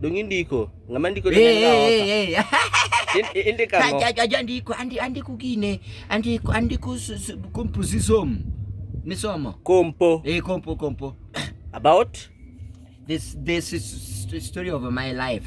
Dong indiko. Ng'ama ndiko to Hey, ng'ama hey, hey, hey. In- in- Indiko ang'o? Aja- aja- aja andiko andi- andiko gine andiko andiko s- s- composition misomo Kompo. eh kompo kompo About? this this is s- story of my life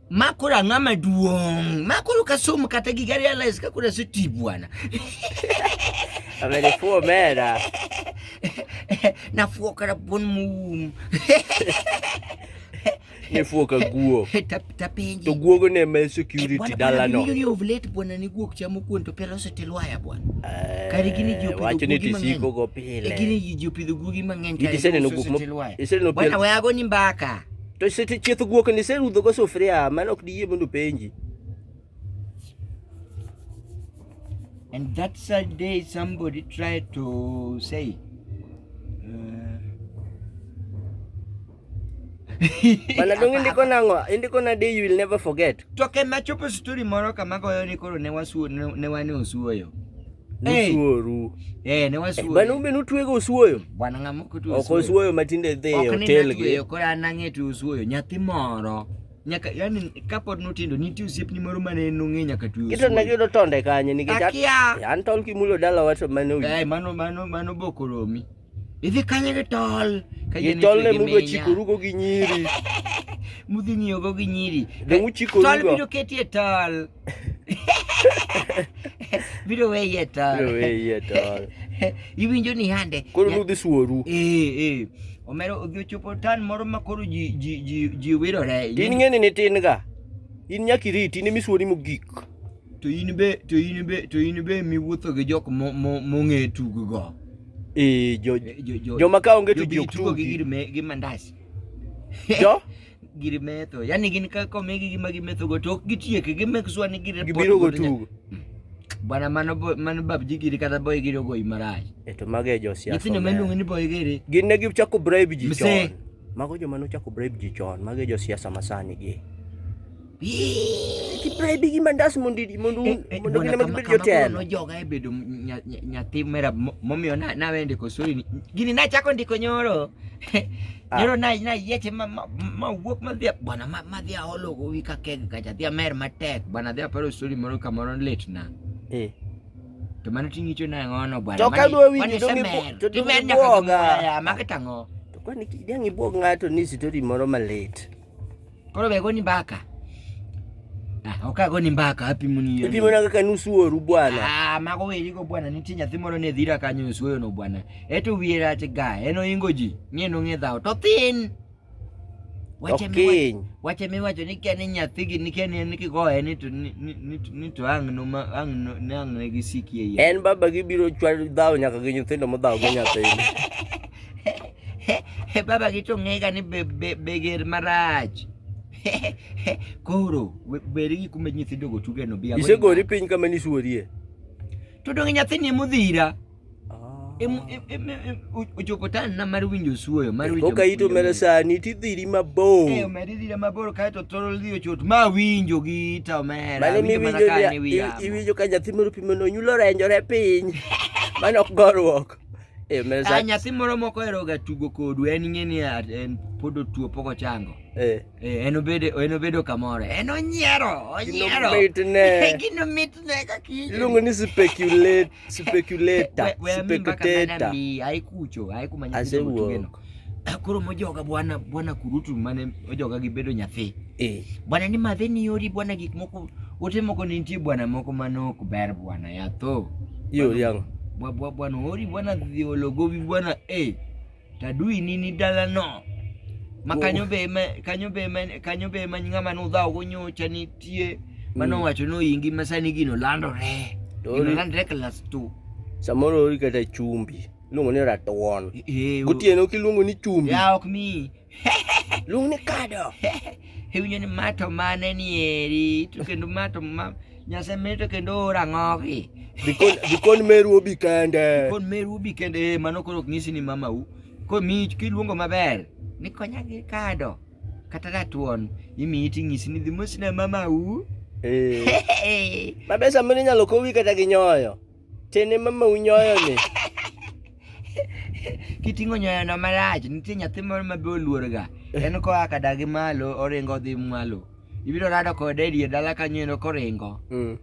ma koro ang'a maduong' ma koro ka somo kata giga realize ka koro aseti bwana Amenifuo omera. nafuo kara bon mum Nifuo ka guo. Tap- tapenji To guogo ne me security Bwana- bwana dalano. winjo ni ovulate bwana ni guok chamo kuon to pelo osetilwaya bwana Eh, Kare gini ji opidho Wacho ni guogi mang'eny. tisiko go E gini pile. ji ji opidho guogi mang'eny Gidi seneno guok mo- iseneno Bwana pien- we ago ni mbaka To sete chieth guok ni serudho go sufria mano ok diyie mondo penji. And that sad day somebody tried to say uh, Bana donge ndiko nango, indiko na day you will never forget. To ke machopo story moro kama goyo ni koro ne wasuo ne wane osuoyo. Nusuoru. Eh, ne wasuoyo. Bana ube nutwego usuoyo. Bwana ng'ama ok otuoyo. Ok osuoyo matinde dhi e hotel gi. Ok ni anang'e tu usuoyo. Nyathi moro. Nyaka yani kapod nutindo nitie osiepni moro mane nong'e nyaka tu. Kito na yudo tonde kanye nikech. Akia. An tol kimulo dala wacho mane. Eh, mano mano mano bokoromi. Idhi kanye gi tol? Ka Gi tol ne mudwa chikorugo gi nyiri. Mudhi ng'iyogo gi nyiri. Dong uchikorugo. Tol biro ketie tol. biro weye tol. Biro weye tol. Iwinjo ni hande. Koro nudhi suoru. Eh, eh. Omero odhi ochopo tan moro ma koro ji ji ji ji wirore. In ng'eni ni tin ga. In nyaka iriti in emisuori mogik. to in be to in be to in be miwuotho gi jok mong'e tug go eh jo eh, joma ka onge tug ok tug gi gir me gi mandas jo gir metho yani gin ka komegi gi magi metho go to ok gitiek gi mek swa ni gir gibiro go tug bwana mano mano babji giri kata boy giri ogo imaraj eto mage jo siasa nyithindo meluongo ni boy giri gin ne gichako bribe ji chon mago joma nochako bribe ji chon mage jo siasa masani gi Ti pray bigi mandas mondo mondo eh, eh, mondo gine mag bedo jotelo. No joga e bedo nyathi mera momiyo na na wende kosuri ni. Gini na chako ndiko nyoro. Ah. Nyoro na na yeche ma ma wuok ma dhia bwana ma ma dhia olo go wi ka keg ka ja dhia mer matek bwana dhia paro suri moro kamoro lit na. Eh. To mano tingicho na ngono bwana. To ka dwa wi ni dongi po. To dwa nyaka. Maka tango. To kwani kidangi bwog ngato ni sitori moro malit. Koro be goni mbaka. Ah, ok agoni mbaka hapi muni. Hapi muna kaka nusu oru bwana. Ah, mago weli go bwana nitie nyathi moro ne dhira kanyo nusu oyo no bwana. Eto wiye rach ga, eno ingo ji, ng'e no ng'e dhawo to thin. Wache mi wache mi wacho ni kene nyathi gi ni kene ni kigoye ni to ni ni ni to ang no ma ang no ne ang ne gi sikie. En baba gi biro chwal dhawo nyaka gi nyithindo mo dhawo gi nyathi. He, baba gi to ng'ega ni be, be, be ger marach koro beri gi kuma nyithindo go tuge no biya isegori piny kama ni suorie to donge nyathini emudhira ochopo ah. tan na mar winjo suoyo mar winjo koka ito mera sani tidhiri mabor eh omera idhira mabor kae to thoro dhi ochot ma winjo gi ita omera mane mi winjo iwinjo ka nyathi moro pimo no nyulo renjore piny mano ok gorruok Eh, mnaweza- Ah, nyathi moro moko oheroga tugo kodu en ing'e ni ah, en pod otuo pok ochango eh, Eh, en obedo en obedo kamoro en onyiero onyiero Ginomitne. gino mitne ka kich iluongo ni speculate speculator We- we ami mbaka mana spectator mi, aikucho aikumanya Asewuok. Ah, koro mojoga bwana bwana kurutu mane ojoga gi bedo nyathi eh. bwana ni madhe ni yori bwana gik moko ote moko ni nitie bwana moko mane ok ber bwana yatho yori yango bwa bwana ori bwana dhi ologobi bwana eh tadui ni ni dala no ma kanyo be ma kanyo be ma kanyo be ma ngama no dhawo go nyocha nitie mano mm. wacho no ingi masani gino landore gino landore class 2 samoro ori kata chumbi iluongo ni ratuon gotieno kiluongo ni chumbi ya ok mi luong ni kado iwinjo ni ma to mane nieri to kendo ma to ma nyase mene to kendo ora ng'ogi dikon meru obi kende dikon meru obi kende eh, mano koro ok nyisi ni mamau komi kiluongo maber ni konya gi kado kata ratuon imiyi ting'isi ni dhi mosina mamau eh. mabe samoro inyalo kowi kata gi nyoyo Tene mama unyoyo ni. Kiting'o nyoyo no marach, nitie nyathi moro ma be oluor ga. En ko aka dagi malo, oringo dhi malo. Ibiro rado kode e dier dala kanyo eno koringo. Mm.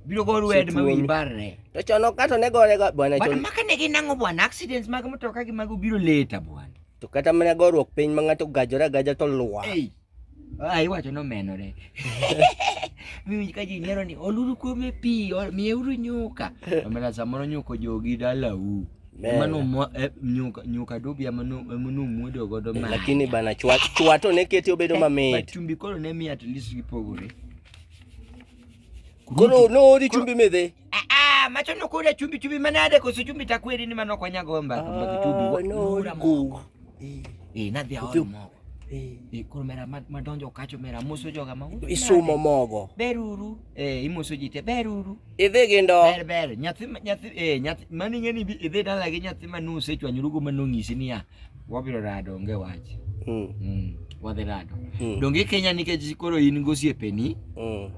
Biro go rued ma wi barre. To chono kato ne gore ga bwana chon. Bwana maka ne ginango bwana accidents mag mtoka gi mago biro leta bwana. To kata mana gorruok piny ma ng'ato gajore agaja to lwa. Hey. Ah, iwacho ni omenore. Miwinj ka ji nyiero ni oluru kuome pi, ol- miyeuru nyuka. Omera samoro nyuka ojogi dalau. Amen. Mano mo- eh, nyuka nyuka dobi ema nu- ema numwodo godo ma. lakini bana chwa chwa to ne keti obedo mamit But chumbi koro ne miyo at least gipogore. koro noori chumbi midhi Ah, ah, macho no kule chumbi chumbi manade ko chumbi takweli ni manoko nyagomba ah, kumba chumbi no ura moko. Eh, eh nadhi aona moko. Eh, eh kuro mera madonjo kacho mera muso joga mago. Isumo mogo. Beruru. Eh, imuso jite beruru. Idhi gindo. Ber ber, nyathi nyathi eh nyathi mani ngeni idhi dala gi nyathi manuse chwa nyurugo manongisi niya. Wabiro rado onge wach. Mm. Mm. Wadhi rado. Mm. Donge ikenya nikech koro in gosiepeni? Mm.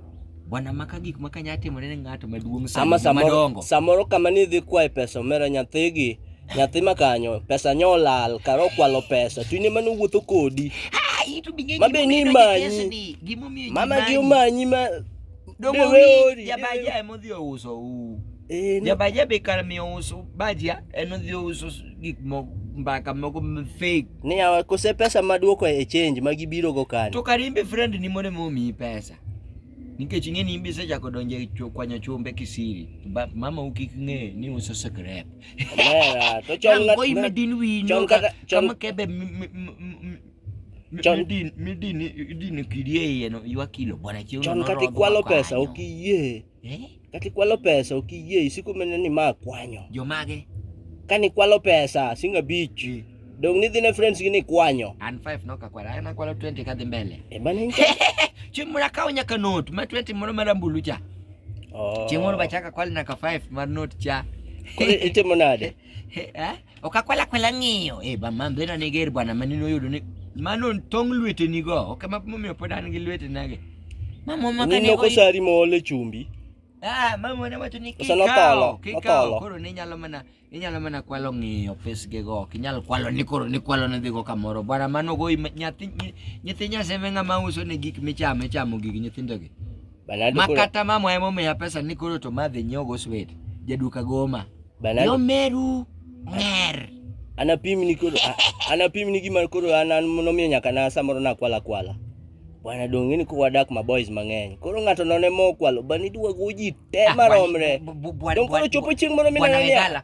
Bwana maka gik ma kanya timore ne ng'ato maduong' sa Ama samoro, madongo. samoro kama ni idhi kwayo pesa omera nyathigi nyathi ma kanyo pesa nyo olal kara okwalo pesa to in ema nowuotho kodi Ai, to bing'e Ma be ni gimomiyo imanyi. idonjo e kesni, gimomiyo ji mama gi manyi. omanyi ma Donge Dewe ori, ori, jabaja dewe. ema odhi ouso u. Eh, ni- Jabaja be kar miyo uso bajia en odhi ouso gik moko mbaka moko m- fake ni yawa kose pesa maduoko e change ma gibiro go kani to kar in be friend ni mondo ema omiyi pesa nikech ing'e ni in be isechako donjo e cho- kwanyo chumbe kisiri To ba- mama u kik ng'e ni uso sigaret Lera, to chon ng'at- Yango imedin winyo chon ka- kata- chon- kama kebe mi- mi- mi- mi- mi- Chon- midin- midin- idin kidi e iye no ywak kilo bwana chieng' chon kata ikwalo pesa ok iyie Eh? Kati kwalo pesa ok iyie isiko mene ni ma kwanyo. Jomage? Kani kwalo pesa singa beach. Mm. Dong ni dhine friends gini kwanyo. And five no kakwara. Ana kwalo 20 kadhi mbele. E bana inka. Chieng' moro akawo nyaka note ma 20 moro marambulu cha. Oh. Chieng' moro bachaka kwalo nyaka 5 mar note cha. Kore itimo nade? Eh? Okakwala kwala ng'iyo. Eh, ba man bena ne ger bwana mani noyudo ni mano tong lwete ni go. Ok ma momiyo pod an gi lwete nage. Mama maka ne. Nino kosari mole chumbi. Ah, mama ne wacho ni kikawo, kikawo koro ni nyalo mana inyalo mana kwalo ng'iyo pesge go ok inyal kwalo ni koro ni kwalo ne dhigo kamoro bwana mano go nyathi nyathi nyaseme ng'ama uso ne gik michamo ichamo gigi nyithindogi makata mamwa emomiya pesa ni koro to madhi nyiewo go swet jaduka goma yo meru ng'er anapim ni koro anapim ni gima koro an an nomiyo nyaka na samoro nakwala kwala bwana donge ni kuwadak ma boys mang'eny koro ng'ato none mo kwalo bani duwago ji te ah, maromre dong koro chopo chieng' moro mineno niya